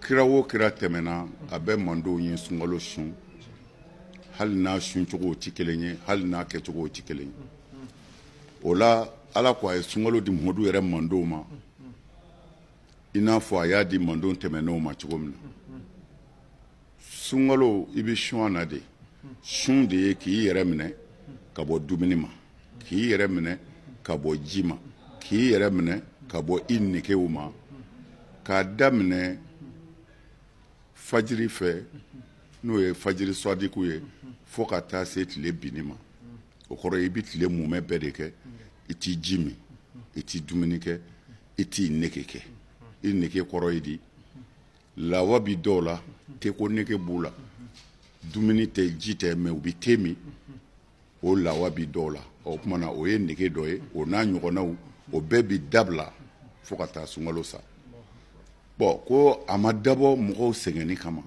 kira wo kira tɛmɛna a bɛɛ mantɔnw ye sunkalo sun hali n'a suncogo tɛ kelen ye hali n'a kɛcogo tɛ kelen ye o la ala ko a ye sunkalo di Muhamadu yɛrɛ mantɔnw ma i n'a fɔ a y'a di mantɔn tɛmɛnenw ma cogo min na sunkalo i bɛ sun na de sun de ye k'i yɛrɛ minɛ ka bɔ dumuni ma k'i yɛrɛ minɛ ka bɔ ji ma k'i yɛrɛ minɛ ka bɔ i negew ma k'a daminɛ fajiri fɛ n'o ye fajiri swadiku ye fo ka taa se tile binni ma o kɔrɔ i bɛ tile mumɛ bɛɛ de kɛ i tɛ ji min i tɛ dumuni kɛ i t'i nege kɛ i nege kɔrɔ ye di Lawa bɛ dɔw la te ko nege b'u la dumuni tɛ ji tɛ mɛ u bɛ te min o lawa bɛ dɔw la o tuma na o ye nege dɔ ye o n'a ɲɔgɔnnaw o bɛɛ bɛ dabila fo ka taa sunkalo sa bon ko a ma dabɔ mɔgɔw sɛgɛnni kama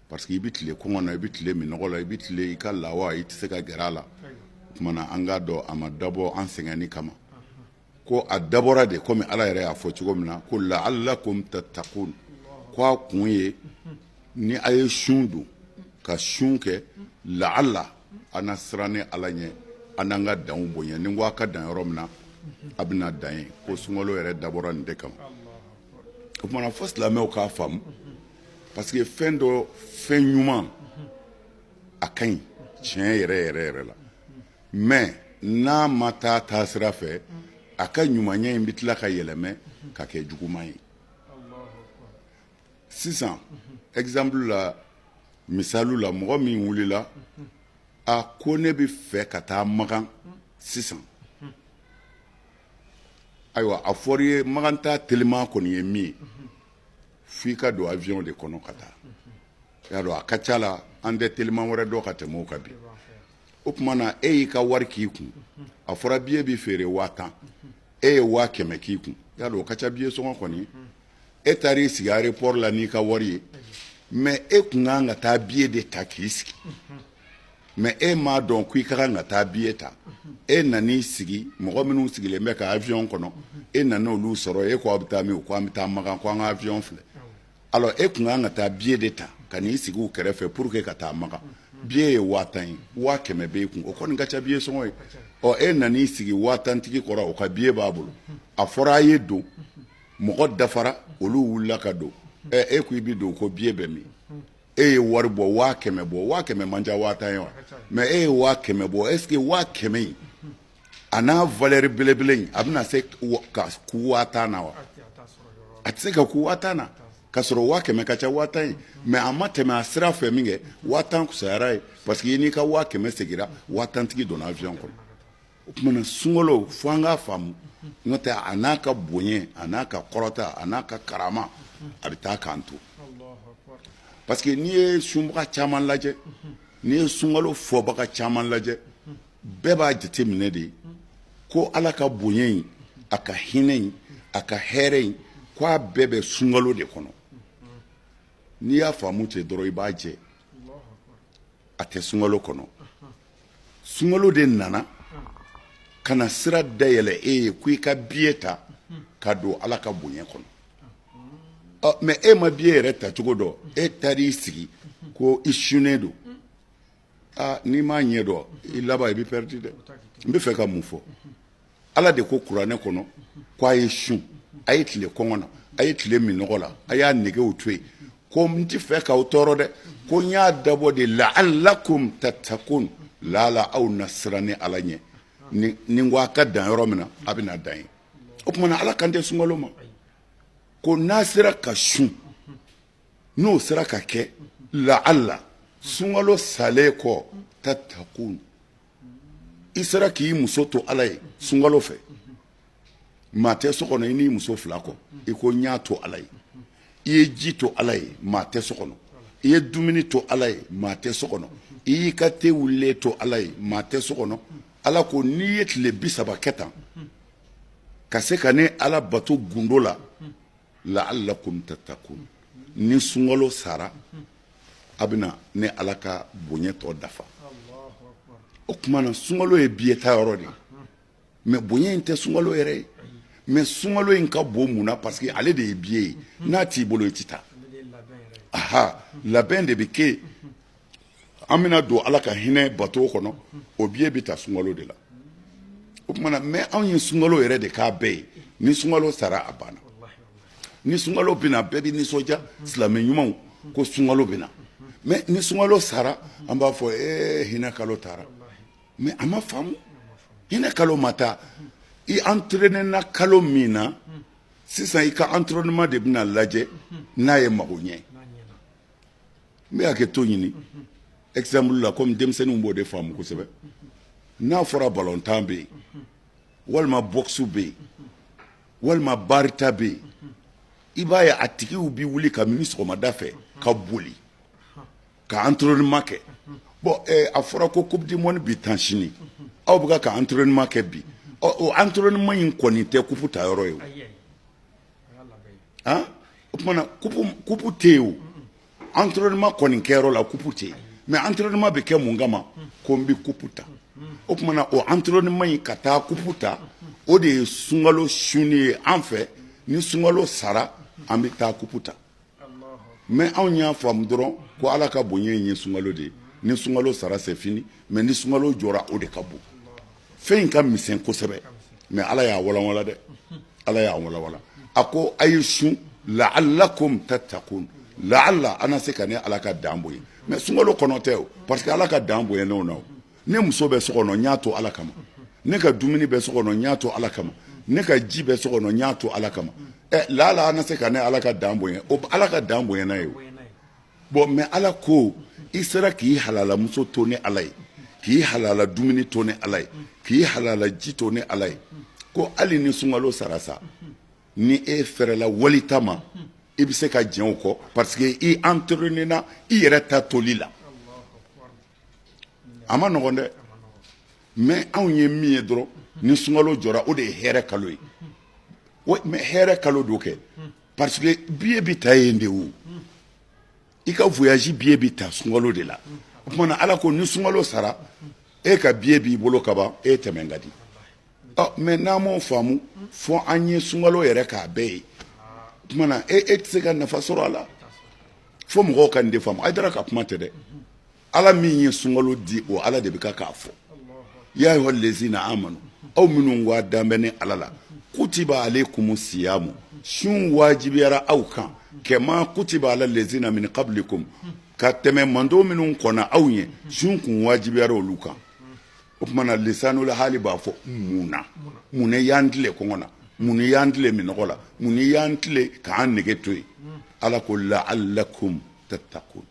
parce que i bɛ tile kɔngɔ na i bɛ tile minnɔgɔ la i bɛ tile i ka lawa i tɛ se ka gɛrɛ a la o tuma na an k'a dɔn a ma dabɔ an sɛgɛnni kama ko a dabɔra de komi ala yɛrɛ y'a fɔ cogo min na ko la'allakum tattakun ko a kun ye ni a ye sun don ka sun kɛ laala a na siran ni ala ɲɛ an n'an ka danw bonya ni ko' a ka dan yɔrɔ min na a bɛna dan yen ko sunkalo yɛrɛ dabɔra nin de kama o tuma na fo silamɛw k'a faamu parce que fɛn dɔ fɛn ɲuman a ka ɲi tiɲɛ yɛrɛ yɛrɛ yɛrɛ la mɛ n'a ma taa taasira fɛ a ka ɲumanya in bɛ tila ka yɛlɛmɛ ka kɛ juguman ye sisan exemple la misali la mɔgɔ min wulila a ko ne bɛ fɛ ka taa makan sisan ayiwa a fɔr'i ye makan taa teliman kɔni ye min ye f'i ka don avion de kɔnɔ ka taa y'a dɔn a ka ca la an tɛ teliman wɛrɛ dɔn ka tɛmɛ o kan bi o tuma na e y'i ka wari k'i kun a fɔra biye bɛ feere waa tan e ye waa kɛmɛ k'i kun y'a dɔn o ka ca biye sɔngɔ kɔni e taara i sigi aéroport la n'i ka wari ye mɛ e tun kan ka taa biye de ta k'i sigi mɛ e m'a dɔn ko i ka kan ka taa biye ta e nan'i sigi mɔgɔ minnu sigilen bɛ ka avion kɔnɔ e nana olu sɔrɔ e k'aw bɛ taa min k'an bɛ taa makan ko an ka avion filɛ Alors e tun ka kan ka taa billet de ta ka n'i sigi u kɛrɛfɛ pour que ka taa Makan, billet ye 50000 ye, 500000 b'e kun o kɔni ka ca billet sɔngɔ ye, ɔ e nana i sigi 50000 tigi kɔrɔ o ka billet b'a bolo, a fɔra a ye don mɔgɔ dafara olu wulila ka don, ɛ e ko i bɛ don ko billet bɛ min? e ye wari bɔ 500000 bɔ 500000 man ca 50000 ye wa? mais e ye 500000 bɔ est ce que 500000 in a n'a valeur belebele in a bɛna se ka kun waa tan na wa a tɛ se ka kun waa tan na ka sɔrɔ waa kɛmɛ ka ca waa tan ye mais a ma tɛmɛ a sira fɛ min kɛ waa tan kusayara ye parce que i n'i ka waa kɛmɛ segira waa tantigi donna avion kɔnɔ o tuma na sunkalo fo an k'a faamu n'o tɛ a n'a ka bonya a n'a ka kɔrɔta a n'a ka karama a bɛ taa k'an to parce que n'i ye sunbaga caman lajɛ n'i ye sunkalo fɔbaga caman lajɛ bɛɛ b'a jate minɛ de ko ala ka bonya in a ka hinɛ in a ka hɛrɛ in ko a bɛɛ bɛ sunkalo de kɔnɔ n'i y'a faamu ten dɔrɔn i b'a jɛ a tɛ sunkalo kɔnɔ sunkalo de nana ka na sira dayɛlɛ e ye ko i ka biye ta ka don ala ka bonya kɔnɔ mais e ma biye yɛrɛ tacogo dɔn e taar'i sigi ko i sunnen don Aa n'i m'a ɲɛ dɔn i laban i bɛ perdu dɛ n bɛ fɛ ka mun fɔ ala de ko kuranɛ kɔnɔ ko a ye sun a ye tile kɔngɔ na a ye tile minnɔgɔ la a y'a negew to yen ko n tɛ fɛ k'aw tɔɔrɔ dɛ ko n y'a dabɔ de la'allakum tattaqun laala aw na siran ne ala ɲɛ ni ko a ka dan yɔrɔ min na a bɛna dan yen o tuma na ala kan tɛ sunkalo ma ko n'a sera ka sun n'o sera ka kɛ la'alla sunkalo salen kɔ tattaqun i sera k'i muso to ala ye sunkalo fɛ maa tɛ so kɔnɔ i n'i muso fila kɔ i ko n y'a to ala ye i ye ji to ala ye maa tɛ so kɔnɔ i ye dumuni to ala ye maa tɛ so kɔnɔ i y'i ka te wulilen to ala ye maa tɛ so kɔnɔ ala ko n'i ye tile bi saba kɛ tan ka se ka ne ala bato gundo la la'allakum tattaqun ni sunkalo sara a bɛna ne ala ka bonya tɔ dafa o tuma na sunkalo ye biye ta yɔrɔ de mais bonya in tɛ sunkalo yɛrɛ ye mais sunkalo in ka bon mun na parce que ale de ye biye ye n'a t'i bolo i tɛ taa aha labɛn de bɛ kɛ an bɛna don ala ka hinɛ bato kɔnɔ o biye bɛ ta sunkalo de la o tuma na mais anw ye sunkalo yɛrɛ de k'a bɛɛ ye ni sunkalo sara a banna ni sunkalo bɛna bɛɛ bɛ nisɔndiya silamɛ ɲumanw ko sunkalo bɛna mais ni sunkalo sara an b'a fɔ e hinɛ kalo taara mais a ma faamu hinɛ kalo ma taa i entraîné na kalo min na sisan i ka entraînement de bɛna lajɛ n'a ye mago ɲɛ n bɛ hakɛ to ɲini exemple la comme denmisɛnninw b'o de faamu kosɛbɛ n'a fɔra balontan bɛ yen walima boxe bɛ yen walima barita bɛ yen i b'a ye a tigiw bɛ wuli kamini sɔgɔmada fɛ ka boli ka entraînement kɛ bon eh, a fɔra ko coupe du monde bɛ tan sini aw bɛ ka entraînement kɛ bi ɔ o entraînement in kɔni tɛ coupe ta yɔrɔ ye o han o tuma na coupe tɛ yen o entraînement kɔni kɛyɔrɔ la coupe tɛ yen mais entraînement bɛ kɛ mun kama ko n bɛ coupe ta o tuma na o entraînement in ka taa coupe ta o de ye sunkalo sun ye an fɛ ni sunkalo sara an bɛ taa coupe ta mais anw y'a faamu dɔrɔn ko ala ka bonya in ye sunkalo de ye ni sunkalo sara c'est fini mais ni sunkalo jɔra o de ka bon fɛn in ka misɛn kosɛbɛ mais ala y'a walanwala dɛ ala y'a walanwala a ko a ye sun laalakum tatakun laala a na se ka ne ala ka dan bonya mais sunkalo kɔnɔ tɛ o parce que ala ka dan bonyanen o na o ne muso bɛ so kɔnɔ n y'a to ala kama ne ka dumuni bɛ so kɔnɔ n y'a to ala kama ne ka ji bɛ so kɔnɔ n y'a to ala kama ɛ laala a na se ka ne ala ka dan bonya o ala ka dan bonyana yen o bon mais ala ko i sera k'i halalamuso to ne ala ye k'i halala dumuni to ne ala ye k'i halala ji to ne ala ye ko hali ni sunkalo sara sa ni e fɛrɛla wali ta ma i bɛ se ka jɛn o kɔ parce que i entraînéna i yɛrɛ ta toli la a man nɔgɔn dɛ mais anw ye min ye dɔrɔn ni sunkalo jɔra o de ye hɛrɛ kalo ye mais hɛrɛ kalo don kɛ parce que billet bɛ ta yen de o i ka voyage billet bɛ ta sunkalo de la o tuma na ala ko ni sunkalo sara e ka billet b'i bolo kaban e tɛmɛn ka di ɔ mais n'an m'o faamu fo an ye sunkalo yɛrɛ k'a bɛɛ ye o tuma na e e tɛ se ka nafa sɔrɔ a la fo mɔgɔw ka nin de faamu Hayidara ka kuma tɛ dɛ Ala min ye sunkalo di o Ala de bɛ kan k'a fɔ yaa ayuha lɛziina aamanu aw minnu ka da bɛ ne Ala la kutiba aleyikumu siyaamu sun wajibiyara aw kan kamaa kutiba ala lɛziina min kablikum ka tɛmɛ mantɔn minnu kɔnna aw ɲɛ sun kun wajibiyara olu kan o tuma na lisaanul haali b'a fɔ mun na mun na i y'an tile kɔngɔ la mun na i y'an tile minɔgɔ la mun na i y'an tile k'an nege to yen Ala ko la'alakumu tatakun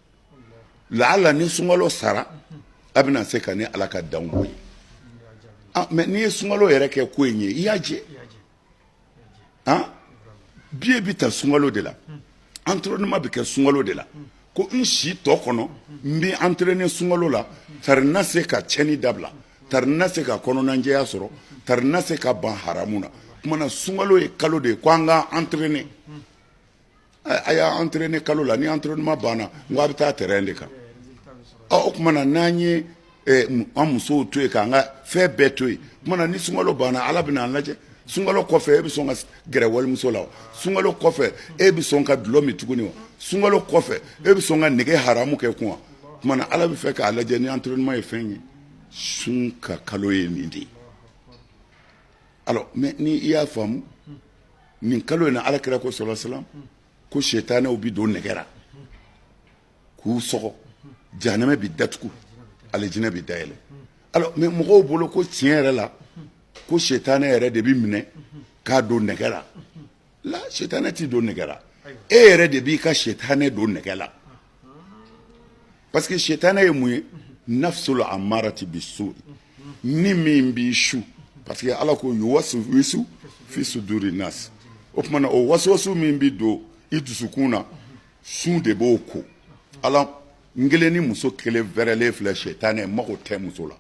laala ni sunkalo sara a bɛna se ka ne ala ka dan bonya ah, mais n'i ye sunkalo yɛrɛ kɛ ko in ye i y'a jɛ ah, billet bɛ ta sunkalo de la entraînement bɛ kɛ sunkalo de la ko n si tɔ kɔnɔ n bɛ entraîner sunkalo la tari n na se ka tiɲɛni dabila tari n na se ka kɔnɔnajɛya sɔrɔ tari n na se ka ban haramu na tuma na sunkalo ye kalo de ye ko an ka entraîner A y'a entraîner kalo la ni entraînement banna n ko a bɛ taa terrain de kan o tuma na n'an ye an musow to yen k'an ka fɛn bɛɛ to yen ni sunkalo banna ala bɛna an lajɛ sunkalo kɔfɛ e bɛ sɔn ka gɛrɛ walimuso la sunkalo kɔfɛ e bɛ sɔn ka dulɔ min tuguni wa sunkalo kɔfɛ e bɛ sɔn ka nɛgɛ haramu kɛ kun tuma ala bɛ fɛ k'a lajɛ ni entraînement ye fɛn ye sun ka kalo ye nin de ye mais n'i y'a faamu nin kalo in na ala kira ko sallallahu alaihi wasallam ko sɛtanɛw bɛ don nɛgɛ la k'u sɔgɔ jahanama bɛ datugu alijinɛ bɛ dayɛlɛ alors mais mɔgɔw bolo ko tiɲɛ yɛrɛ la ko sɛtanɛ yɛrɛ de bɛ minɛ k'a don nɛgɛ la sɛtanɛ ti don nɛgɛ la e yɛrɛ de b'i ka sɛtanɛ don nɛgɛ la parce que sitana ye mun ye nafsul amarati bisu ni min b'i su parce que ala ko yuwaswisu fi suduri nas o tuma na o waswasu min bi don i dusukun na sun de b'o ko ala n kelen ni muso kelen wɛrɛlen filɛ sitana mago tɛ muso la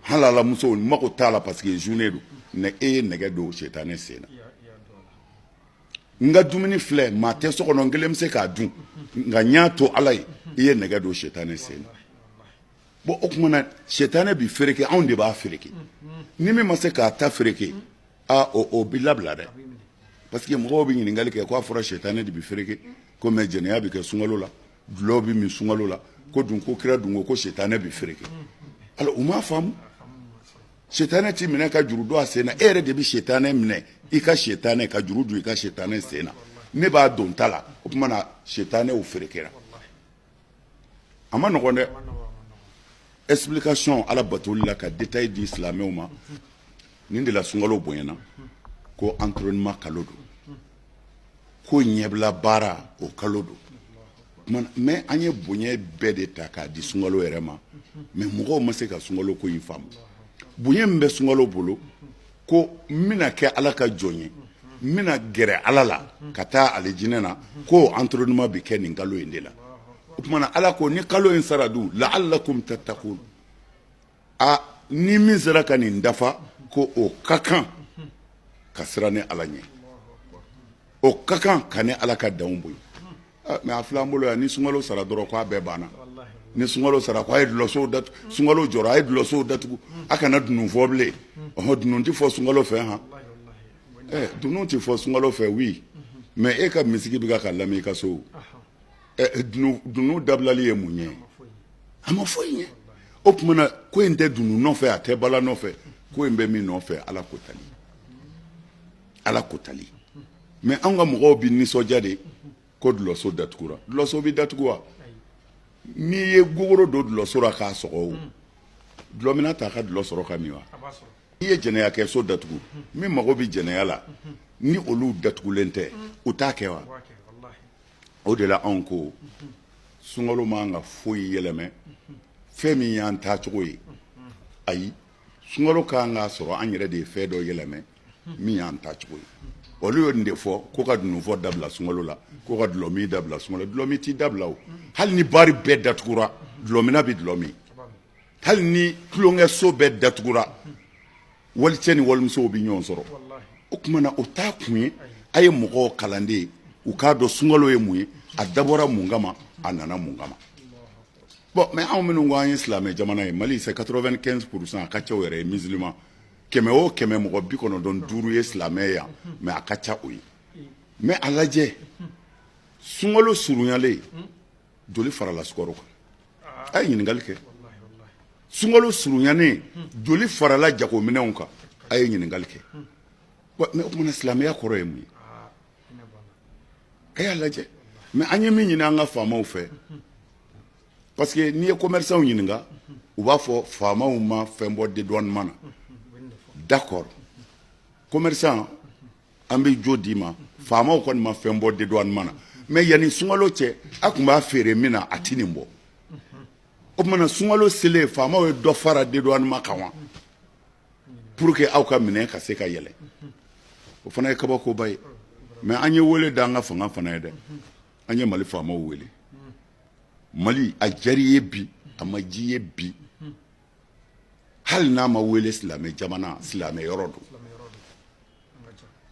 halala muso mago t'a la parce que journée don e ye nɛgɛ don sitana sen na n ka dumuni filɛ maa tɛ so kɔnɔ n kelen bɛ se k'a dun nka n y'a to ala ye i ye nɛgɛ don sɛtanɛ sen na bon o tuma na sɛtanɛ bɛ fereke anw de b'a fereke ni min ma se k'a ta fereke aa o bɛ labila dɛ parce que mɔgɔw bɛ ɲininkali kɛ k'a fɔra sɛtanɛ de bɛ fereke ko mais jɛnɛya bɛ kɛ sunkalo la dulɔ bɛ min sunkalo la ko dun ko kira dun ko ko sɛtanɛ bɛ fereke alors u m'a faamu Sitanɛ tɛ minɛ ka juru don a sen na e yɛrɛ de bɛ sitanɛ minɛ i ka sitanɛ ka juru don i ka sitanɛ sen na ne b'a don n ta la o tuma na sitanɛ ferekera a man nɔgɔn dɛ explication ala batoli la ka détail di silamɛw ma nin de la sunkalo bonyana ko entraînement kalo don ko ɲɛbila baara o kalo don mais an ye bonya bɛɛ de ta k'a di sunkalo yɛrɛ ma mais mɔgɔw ma se ka sunkalo ko in faamu bonya min bɛ sunkalo bolo ko n bɛna kɛ ala ka jɔn ye n bɛna gɛrɛ ala la ka taa alijinɛ na ko entraînement bɛ kɛ nin kalo in de la o tuma na ala ko ni kalo in sara dun la'allakum tattaqun aa ni min sera ka nin dafa ko o ka kan ka siran ne ala ɲɛ o ka kan ka ne ala ka danw boyi mais a filɛ an bolo yan ni sunkalo sara dɔrɔn k'a bɛɛ banna ni sunkalo sara ko a ye dulɔsow datugu sunkalo jɔra a ye dulɔsow datugu a kana dunun fɔ bilen ɔhɔn dunun ti fɔ sunkalo fɛ han ɛ dunun ti fɔ sunkalo fɛ oui mais e ka misigi bɛ ka ka lamɛn i ka so dunun dabilali ye mun ye a ma foyi ɲɛ o tuma na ko in tɛ dunun nɔfɛ a tɛ bala nɔfɛ ko in bɛ min nɔfɛ ala ko tali ala ko tali mais an ka mɔgɔw bɛ nisɔndiya de ko dulɔso datugura dulɔso bɛ datugu wa n'i ye gogoro don dulɔso la k'a sɔgɔ o dulɔmina t'a ka dulɔ sɔrɔ ka min wa n'i ye jɛnɛyakɛso datugu min mago bɛ jɛnɛya la ni olu datugulen tɛ u t'a kɛ wa o de la anw ko sunkalo man ka foyi yɛlɛmɛ fɛn min y'an tacogo ye ayi sunkalo kan k'a sɔrɔ an yɛrɛ de ye fɛn dɔ yɛlɛmɛ min y'an tacogo ye olu ye nin de fɔ ko ka dununfɔ dabila sunkalo la ko ka dulɔmin dabila sunkalo dulɔmin t'i dabila o hali ni bari bɛɛ datugura dulɔmina bɛ dulɔ min hali ni tulonkɛso bɛɛ datugura walicɛ ni walimusow bɛ ɲɔgɔn sɔrɔ o tuma na o t'a kun ye a ye mɔgɔw kalan de ye u k'a dɔn sunkalo ye mun ye a dabɔra mun kama a nana mun kama bon mais anw minnu ko an ye silamɛ jamana ye mali c'est quatre-vingt-quinze pour cent a ka ca o yɛrɛ ye musulman kɛmɛ o kɛmɛ mɔgɔ bi kɔnɔntɔn duuru ye silamɛ yan mais a ka ca o ye mais a lajɛ sunkalo surunyalen joli farala sukaro kan a ye ɲininkali kɛ sunkalo surunyanen joli farala jagominɛnw kan a ye ɲininkali kɛ mais o tuma na silamɛya kɔrɔ ye mun ye a y'a lajɛ mais an ye min ɲini an ka faamaw fɛ parce que n'i ye commerçants ɲininka u b'a fɔ faamaw ma fɛn bɔ dédouanement na d'accord commerçant an bɛ jo d'i ma faamaw kɔni ma fɛn bɔ dédouanement na mais yanni sunkalo cɛ a tun b'a feere min na a tɛ nin bɔ o tuma na sunkalo selen faamaw ye dɔ fara dédouanement kan wa pour que aw ka minɛn ka se ka yɛlɛ o fana ye kabakoba ye mais an ye wele da an ka fanga fana ye dɛ an ye mali faamaw wele mali a jar'i ye bi a ma j'i ye bi hali n'a ma wele silamɛ jamana silamɛ yɔrɔ don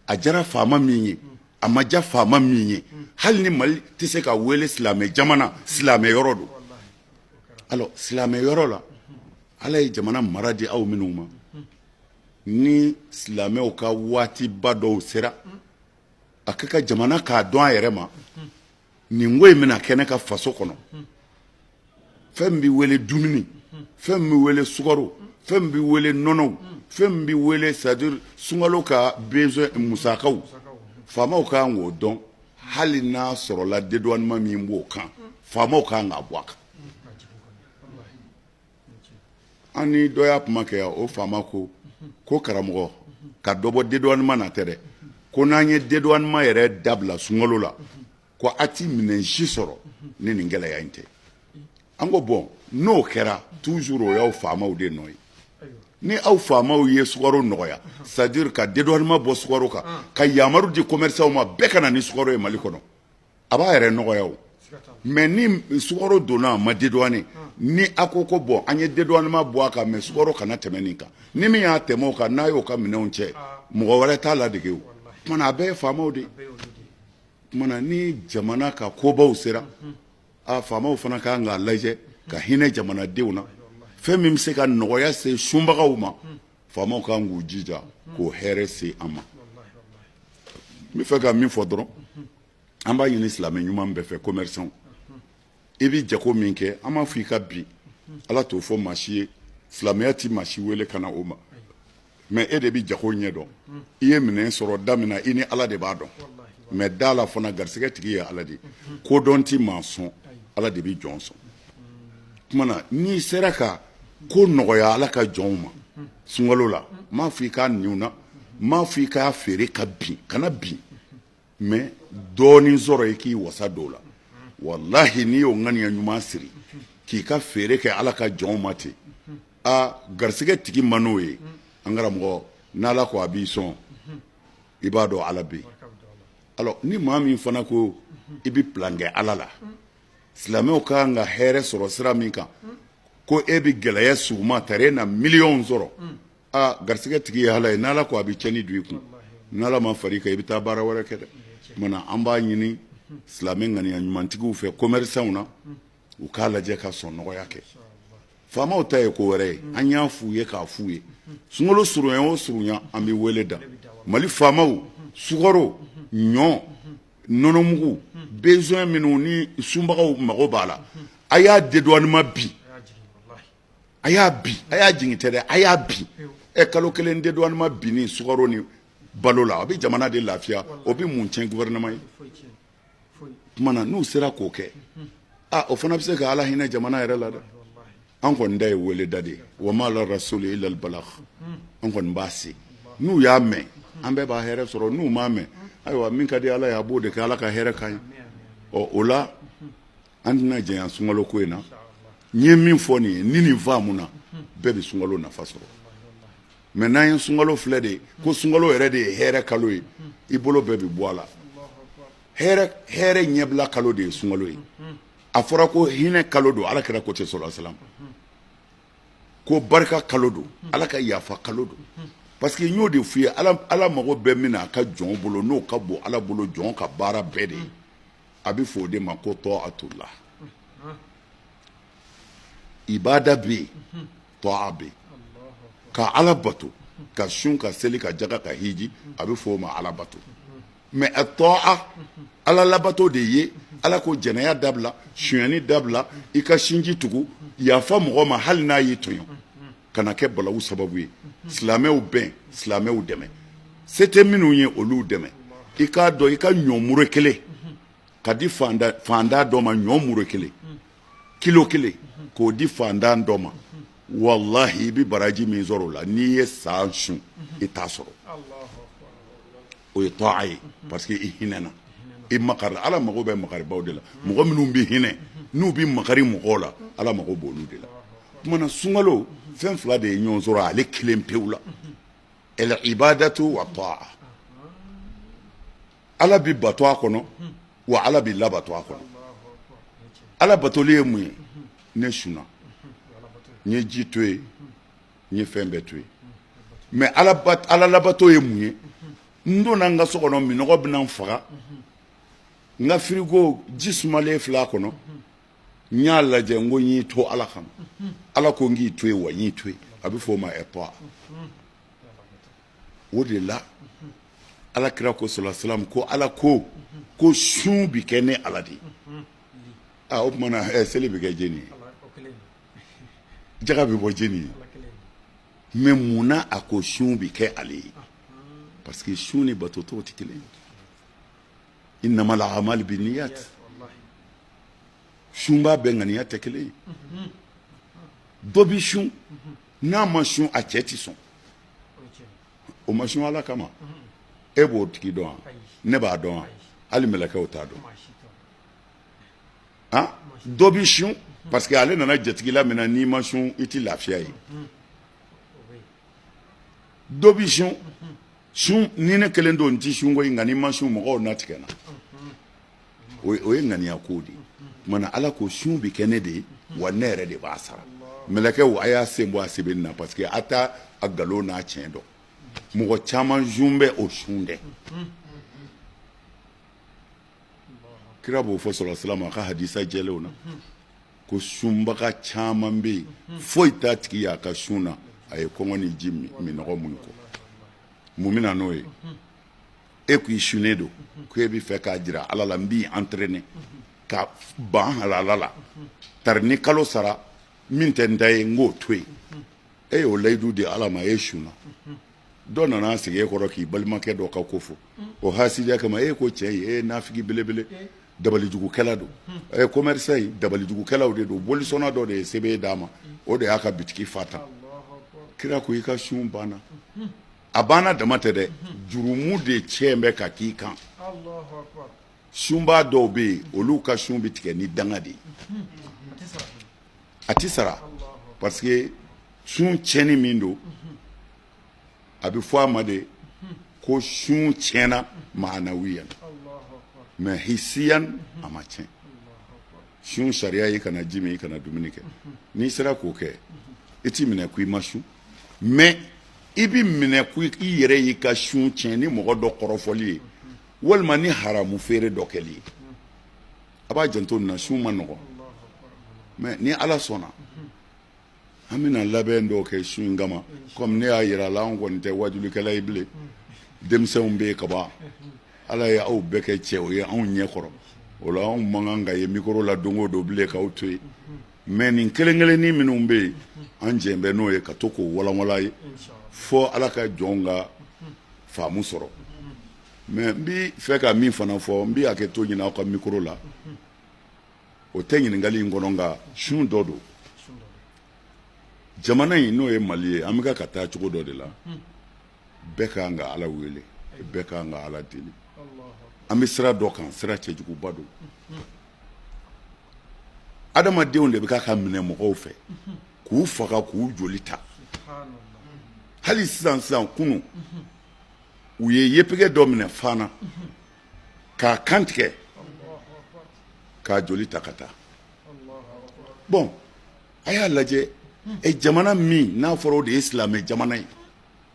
a jara faama min ye a ma ja faama min ye hali ni mali tɛ se ka wele silamɛ jamana silamɛ yɔrɔ don alors silamɛ yɔrɔ la ala ye jamana mara di aw minnu ma ni silamɛw ka waatiba dɔw sera a ka kan jamana k'a dɔn a yɛrɛ ma nin ko in bɛna kɛ ne ka faso kɔnɔ fɛn min bɛ wele dumuni fɛn min bɛ wele sukaro fɛn min bɛ wele nɔnɔw fɛn min bɛ wele c'est à dire sunkalo ka besoin musakaw faamaw ka kan k'o dɔn hali n'a sɔrɔla dédouanement min b'o kan faamaw ka kan k'a bɔ a kan an ni dɔ y'a kuma kɛ yan o faama ko ko karamɔgɔ ka dɔ bɔ dédouanement na tɛ dɛ ko n'an ye dédouanement yɛrɛ dabila sunkalo la ko a tɛ minɛn si sɔrɔ ni nin gɛlɛya in tɛ an ko bon n'o kɛra toujours o y'aw faamaw de nɔ ye ni aw faamaw ye sukaro nɔgɔya c'est-à-dire ka dédouanement bɔ sukaro kan ka yamaru di commerçantw ma bɛɛ ka na ni sukaro ye mali kɔnɔ a b'a yɛrɛ nɔgɔya o mais ni sukaro donna a ma dédouané ni a ko ko bon an ye dédouanement bɔ a kan mais sukaro kana tɛmɛ nin kan ni min y'a tɛmɛ o kan n'a y'o ka minɛnw cɛ mɔgɔ wɛrɛ t'a ladege o tuma na a bɛɛ ye faamaw de o tuma na ni jamana ka kobaw sera a faamaw fana ka kan k'a lajɛ ka hinɛ jamanadenw na fɛn min bɛ se ka nɔgɔya se sunbagaw ma faamaw kan k'u jija k'o hɛrɛ se an ma n bɛ fɛ ka min fɔ dɔrɔn an b'a ɲini silamɛ ɲuman bɛɛ fɛ commerçant i bɛ jago min kɛ an m'a fɔ i ka bin ala t'o fɔ maa si ye silamɛya tɛ maa si wele ka na o ma mais e de bɛ jago ɲɛ dɔn i ye minɛn sɔrɔ da min na i ni ala de b'a dɔn mais da a la fana garisɛgɛ tigi ye ala de ye kodɔn tɛ maa sɔn ala de bɛ jɔn sɔn o tuma na n'i sera ka ko nɔgɔya ala ka jɔnw ma sunkalo la n m'a fɔ i k'a ni u na n m'a fɔ i k'a feere ka bin kana bin mais dɔɔnin sɔrɔ i k'i wasa don o la wallahi n'i y'o ŋaniya ɲuman siri k'i ka feere kɛ ala ka jɔnw ma ten aa garisɛgɛ tigi ma n'o ye an karamɔgɔ n'ala ko a b'i sɔn i b'a dɔn ala bɛ alors ni maa min fana ko i bɛ plan kɛ ala la silamɛw ka kan ka hɛrɛ sɔrɔ sira min kan ko e bɛ gɛlɛya sugu ma ta e na miliyɔn sɔrɔ aa garisɛgɛ tigi ye ala ye n' ala ko a bɛ cɛnni don i kun n' ala ma fara i kan i bɛ taa baara wɛrɛ kɛ dɛ tuma na an b'a ɲini silamɛ ŋaniya ɲumantigiw fɛ commerçantw na u k'a lajɛ ka sɔn nɔgɔya kɛ faamaw ta ye ko wɛrɛ ye an y'a f' u ye k'a f' u ye sunkalo surunya o surunya an bɛ wele da mali faamaw sukaro ɲɔ nɔnɔmugu besoin minnu ni sunbagaw mago b'a la a y'a dédouanement bin a y'a bin a y'a jigin tɛ dɛ a y'a bin ɛ kalo kelen dédouanement bin ni sukaro ni balo la a bɛ jamana de lafiya o bɛ mun cɛn gouvernement ye tuma na n'u sera k'o kɛ o fana bɛ se ka ala hinɛ jamana yɛrɛ la dɛ an kɔni ta ye wele da de ye wa ma ala rasuli illa al balagh an kɔni b'a se n'u y'a mɛn an bɛɛ b'a hɛrɛ sɔrɔ n'u m'a mɛn ayiwa min ka di ala ye a b'o de kɛ ala ka hɛrɛ k'an ye ɔ o la an tɛna janya sunkalo ko in na n ye min fɔ nin ye ni nin faamuna bɛɛ bɛ sunkalo nafa sɔrɔ mais n'an ye sunkalo filɛ de ye ko sunkalo yɛrɛ de ye hɛrɛ kalo ye i bolo bɛɛ bɛ bɔ a la hɛrɛ ɲɛbila kalo de ye sunkalo ye a fɔra ko hinɛ kalo don ala kira ko ten sɔlasalam ko barika kalo don ala ka yafa kalo don parce que n y'o de f'i ye ala mago bɛ min na a ka jɔn bolo n'o ka bon ala bolo jɔn ka baara bɛɛ de ye a bɛ fɔ o de ma ko tɔ'atullah ibada bɛ yen tɔ'a bɛ yen ka ala bato ka sun ka seli ka jaga ka hiji a bɛ fɔ o ma ala bato mais atɔ'a ala labato de ye ala ko jɛnɛya dabila sonyani dabila i ka sinji tugu yafa mɔgɔ ma hali n'a y'i tɔɲɔ kana kɛ balawu sababu ye silamɛw bɛn silamɛw dɛmɛ se tɛ minnu ye olu dɛmɛ i k'a dɔn i ka ɲɔ mure kelen k'a di fantan dɔ ma ɲɔ mure kelen kilo kelen k'o di fantan dɔ ma walahi i bɛ baraji min sɔrɔ o la n'i ye san sun i t'a sɔrɔ O ye tɔ'a ye parce que i hinɛna i makari ala mago bɛ makaribaw de la mɔgɔ minnu bɛ hinɛ n'u bɛ makari mɔgɔw la ala mago b'olu de la kuma na sunkalo fɛn fila de ye ɲɔgɔn sɔrɔ ale kelen pewu la al ibadatu wa tɔ'a ala bɛ bato a kɔnɔ wa ala bɛ labato a kɔnɔ ala batoli ye mun ye ne sunna n ye ji to yen n ye fɛn bɛɛ to yen mais ala labato ye mun ye n donna n ka so kɔnɔ minɔgɔ bɛna n faga n ka firigo ji sumalen filɛ a kɔnɔ n y'a lajɛ n ko n y'i to ala kama ala ko n k'i to yen wa n y'i to yen a bɛ f'o ma atɔ'a o de la ala kira ko sɔlasalam ko ala ko ko sun bi kɛ ne ala de ye aa o tuma na ɛ seli bɛ kɛ jeni ye jaga bɛ bɔ jeni ye mais mun na a ko sun bɛ kɛ ale ye parce que sun ni bato tɔw tɛ kelen ye innamal a'malu binniyat sunba bɛɛ ŋaniya tɛ kelen ye dɔ bi sun n'a ma sun a cɛ tɛ sɔn o ma sun ala kama e b'o tigi dɔn wa ne b'a dɔn wa hali mɛlɛkɛw t'a dɔn an dɔ bi sun parce que ale nana jatigila min na n'i ma sun i tɛ lafiya ye dɔ bi sun sun ni ne kelen don n tɛ sun koyi nka n'i ma sun mɔgɔw na tigɛ n na o ye o ye ŋaniya ko de ye tuma na ala ko sun bɛ kɛ ne de ye wa ne yɛrɛ de b'a sara mɛlɛkɛw a y'a sen bɔ a sɛbɛnni na parce que a t'a a nkalon n'a tiɲɛ dɔn mɔgɔ caman sun bɛ o sun dɛ kira b'o fɔ salalahu alayihi wasalama a ka hadisa jɛlenw na ko sunbaga caman bɛ yen foyi t'a tigi y'a ka sun na a ye kɔngɔ ni ji minnɔgɔ muɲu kɔ mun bɛna n'o ye e k'i sunnen don ko e bɛ fɛ k'a jira ala la n b'i entraîner ka ban halala la tari ni kalo sara min tɛ n ta ye n k'o to yen e y'o layidu di ala ma e sunna dɔ nana sigi e kɔrɔ k'i balimakɛ dɔ ka ko fɔ o hasidiya kama e ko cɛ in e ye nafigi belebele dabalijugukɛla don commerçant in dabalijugukɛlaw de don bolisɔnna dɔ de ye sɛbɛn d'a ma o de y'a ka bitigi fa tan kira ko i ka sun banna a banna dama tɛ dɛ jurumu de cɛ bɛ ka k'i kan sunbaa dɔw bɛ yen olu ka sun bɛ tigɛ ni danga de ye a tɛ sara parce que sun tiɲɛni min don a bɛ fɔ a ma de ko sun tiɲɛna maanawiyan mais hisiyan a ma tiɲɛ sun sariya i kana ji min i kana dumuni kɛ n'i sera k'o kɛ i tɛ minɛ ko i ma sun mais i bɛ minɛ ko i yɛrɛ y'i ka sun tiɲɛ ni mɔgɔ dɔ kɔrɔfɔli ye walima ni haramu feere dɔ kɛli ye a b'a janto nin na sun man nɔgɔ mais ni ala sɔnna an bɛna labɛn dɔw kɛ sun in kama kɔmi ne y'a jira a la an kɔni tɛ waajulikɛla ye bilen denmisɛnw bɛ yen kaban ala ye aw bɛɛ kɛ cɛw ye anw ɲɛ kɔrɔ o la anw man kan ka ye mikoro la don o don bilen k'aw to yen mais nin kelen kelennin minnu bɛ yen an jɛn bɛ n'o ye ka to k'o walanwalan ye fɔ ala ka jɔnw ka faamu sɔrɔ Mais n bɛ fɛ ka min fana fɔ n bɛ hakɛto ɲini aw ka mikoro la o tɛ ɲininkakali in kɔnɔ nka sun dɔ don jamana in n'o ye mali ye an bɛka ka taa cogo dɔ de la bɛɛ ka kan ka ala wele bɛɛ ka kan ka ala deli an bɛ sira dɔ kan sira cɛjuguba don adamadenw de bɛ ka ka minɛ mɔgɔw fɛ k'u faga k'u joli ta hali sisan sisan kunun u ye yefege dɔ minɛ fana k'a kan tigɛ k'a joli ta ka taa bɔn a y'a lajɛ e jamana min n'a fɔra o de ye silamɛ jamana ye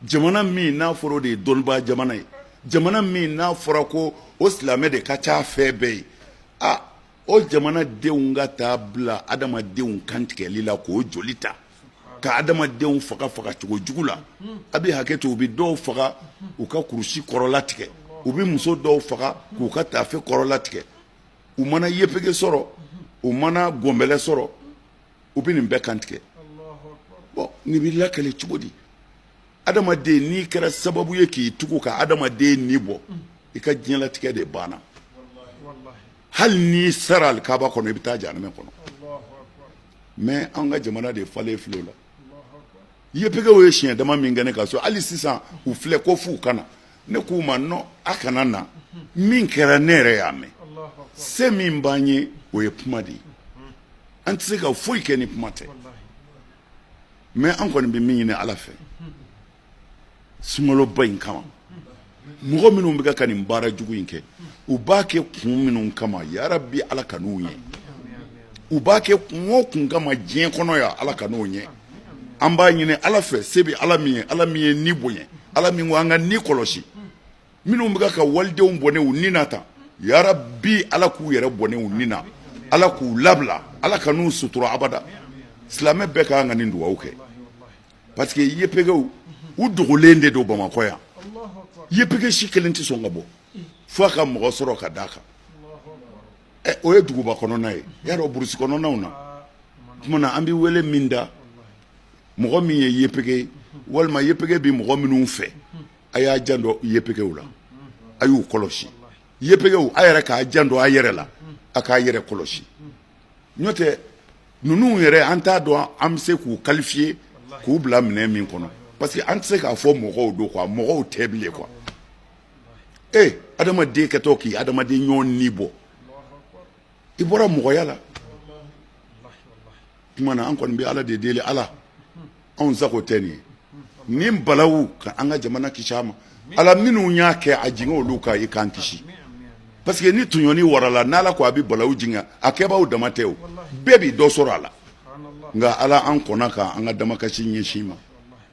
jamana min n'a fɔra o de ye dɔnnibaa jamana ye jamana min n'a fɔra ko o silamɛ de ka ca fɛn bɛɛ ye a o jamana denw ka taa bila adamadenw kantigɛli la k'o joli ta ka adamadenw faga faga cogo jugu la a bɛ hakɛ to u bɛ dɔw faga u ka kurusi kɔrɔla tigɛ u bɛ muso dɔw faga k'u ka taafe kɔrɔla tigɛ u mana yepege sɔrɔ u mana gɔnbɛlɛ sɔrɔ u bɛ nin bɛɛ kantigɛ bon nin bɛ lakale cogo di adamaden n'i kɛra sababu ye k'i tugu ka adamaden ni bɔ i ka diɲɛlatigɛ de banna hali n'i sara alikaba kɔnɔ i bɛ taa janɛmɛ kɔnɔ mais an ka jamana de falen filɛ o la yepegew ye siɲɛ dama min kɛ ne ka so hali sisan u filɛ ko f'u ka na ne k'u ma non a kana na min kɛra ne yɛrɛ y'a mɛn se min b'an ye o ye kuma de ye an tɛ se ka foyi kɛ ni kuma tɛ mais an kɔni bɛ min ɲini ala fɛ sunkaloba in kama mɔgɔ minnu bɛ ka nin baara jugu in kɛ u b'a kɛ kun minnu kama yarabi ala kan'u ɲɛ u b'a kɛ kun o kun kama diɲɛ kɔnɔ yan ala kan'o ɲɛ an b'a ɲini ala fɛ se bɛ ala min ye ala min ye ni bonya ala min ko an ka ni kɔlɔsi minnu bɛ ka walidenw bɔnɛ u ni na tan yarabi ala k'u yɛrɛ bɔnɛ u ni na ala k'u labila ala kan'u sutura abada silamɛ bɛɛ ka kan ka nin dugawu kɛ parce que yepegew u dogolen de don bamakɔ yan yepege si kelen tɛ sɔn ka bɔ fo a ka mɔgɔ sɔrɔ ka d'a kan ɛ o ye duguba kɔnɔna ye y'a dɔn burusi kɔnɔnaw na tuma na an bɛ wele min da mɔgɔ min ye yepege ye walima yepege bɛ mɔgɔ minnu fɛ a y'a janto yepegew la a y'u kɔlɔsi yepegew a yɛrɛ k'a janto a yɛrɛ la a k'a yɛrɛ kɔlɔsi n'o tɛ Ninnu yɛrɛ an t'a dɔn an bɛ se k'u qualifier k'u bila minɛn min kɔnɔ parce que an tɛ se k'a fɔ mɔgɔw don quoi mɔgɔw tɛ bilen quoi ee adamaden kɛtɔ k'i adamaden ɲɔgɔn ni bɔ i bɔra mɔgɔya la tuma na an kɔni bɛ ala de deli ala anw sago tɛ nin ye nin balawu ka an ka jamana kisi a ma ala minnu y'a kɛ a jigin olu kan i k'an kisi parce que ni tɔɲɔni warala n' ala ko a bɛ balawu jigin a kɛbaaw dama tɛ o bɛɛ bɛ dɔ sɔrɔ a la nka ala an kɔnna ka an ka damakasi ɲɛsin i ma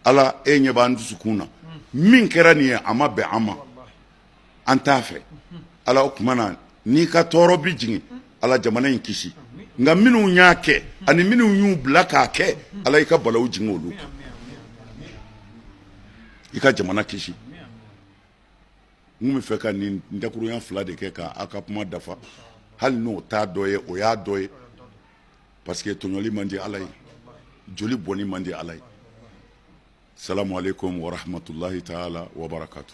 ala e ɲɛ b'an dusukun na min kɛra nin ye a ma bɛn an ma an t'a fɛ ala o tuma na n'i ka tɔɔrɔ bɛ jigin ala jamana in kisi nka minnu y'a kɛ ani minnu y'u bila k'a kɛ ala i ka balawu jigin olu kan i ka jamana kisi n bɛ fɛ ka nin dakurunya fila de kɛ k' aw ka kuma dafa hali n'o t'a dɔ ye o y'a dɔ ye parce que tɔɲɔli man di ala ye joli bɔnni man di ala ye salamu aleyikum warahamatulayi taala wabarakatu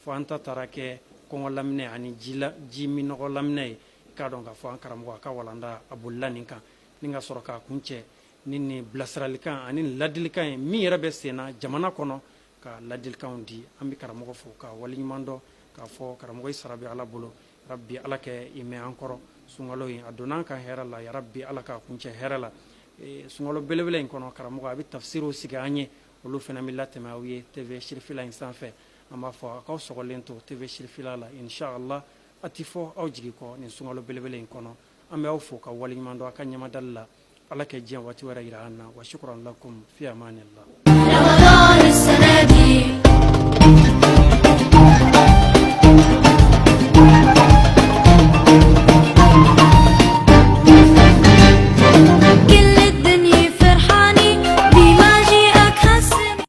Fo an ta taara kɛ kɔngɔ laminɛ ani ji la ji minnɔgɔ laminɛ ye k'a dɔn k'a fɔ an karamɔgɔ a ka walanda a bolila nin kan ni ka sɔrɔ k'a kuncɛ ni nin bilasiralikan ani nin ladilikan ye min yɛrɛ bɛ senna jamana kɔnɔ ka ladilikanw di an bɛ karamɔgɔ fo ka waleɲuman dɔn k'a fɔ karamɔgɔ sara bɛ ala bolo rabi ala k'i mɛɛn an kɔrɔ sunkalo in a donna an kan hɛrɛ la yarabi ala k'a kuncɛ hɛrɛ la e, sunkalo belebele in kɔnɔ karamɔgɔ a bɛ tafisiriw sigi an ye olu fana bɛ latɛmɛ aw ye TV sirifila in sanfɛ An b'a fɔ a' k'aw sɔgɔlen to TV sirifila la in sha Allah a tɛ fɔ aw jigi kɔ nin sunkalo belebele in kɔnɔ, an bɛ aw fo ka waleɲuman dɔn aw ka ɲɛmadali la Ala ka diɲɛ waati wɛrɛ yira an na wa sukran lakum fii amanillah.